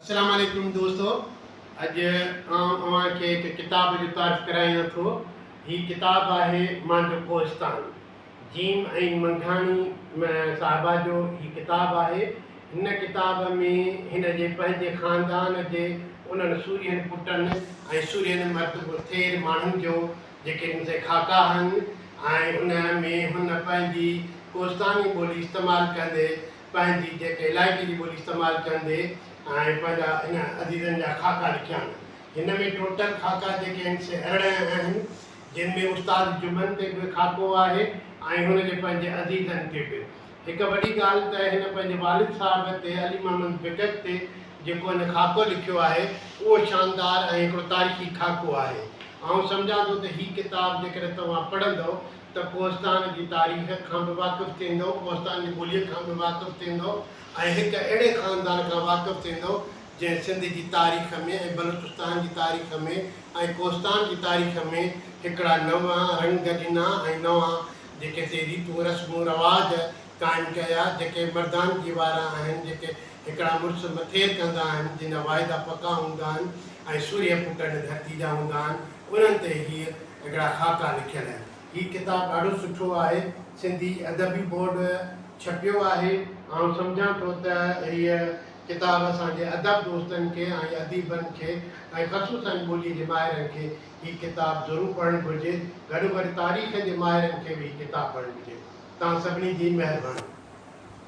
اسلام عليڪم دوستو اڄ آئون اوهان کي هڪ ڪتاب جو تعارف ڪرايان ٿو هي ڪتاب آهي مانجهه ڪوهستان جيم ۽ منگهاڻي صاحبه جو هي ڪتاب آهي هن ڪتاب ۾ هن جي پنهنجي خاندان جي انهن سورهين پٽن ۽ سورهين مرد ٿير ماڻهن جو جيڪي هن جي خاڪا آهن ۽ ان ۾ هن پنهنجي ڪوهستاني ٻولي استعمال ڪندي پنهنجي جيڪي علائقي جي ٻولي استعمال ڪندي ۽ پنهنجا انهن عزيزن جا خاڪا لکيا آهن. هن ۾ ٽوٽل خاڪا جيڪي آهن سي ارڙهن آهن، جن ۾ استاد جمن تي به خاڪو آهي ۽ هن جي پنهنجي عزيزن تي به. هڪ وڏي ڳالهه ته هن پنهنجي والد صاحب تي علي محمد بيڪڪ تي جيڪو هن خاڪو لکيو آهي، اهو شاندار ۽ هڪڙو تاريخي خاڪو آهي. آئون سمجهان ٿو ته هي ڪتاب جيڪڏهن توهان پڙهندؤ ته ڪوهستان جي تاريخ کان به واقف ٿيندؤ، ڪوهستان جي ٻوليء کان به واقف ٿيندؤ ۽ هڪ اهڙي خاندان کان واقف ٿيندؤ، جنهن سنڌ جي تاريخ ۾ ۽ بلوچستان جي تاريخ ۾ ۽ ڪوهستان جي تاريخ ۾ هڪڙا نوان رنگ ڏنا ۽ نوان جيڪي سي ريتون رسمون رواج قائم ڪيا، جيڪي مردانگي وارا آهن، جيڪي هڪڙا مڙس مٿير ڪندا آهن، جن جا واعدا پڪا هوندا آهن ۽ سورهيه ڦٽل ڌرتي جا هوندا آهن، انهن تي هيء هڪڙا خاڪا لکيل آهن. هي ڪتاب ڏاڍو سٺو آهي. سنڌي ادبي بورڊ ڇپيو آهي. آئون سمجهان ٿو ته هيء ڪتاب اسان جي ادب دوستن کي ۽ اديبن کي ۽ خصوصاً ٻوليء جي ماهرن کي هي ڪتاب ضرور پڙهڻ گهرجي گڏوگڏ تاريخ جي ماهرن کي به هي ڪتاب پڙهڻ گهرجي توهان سڀني جي مهرباني.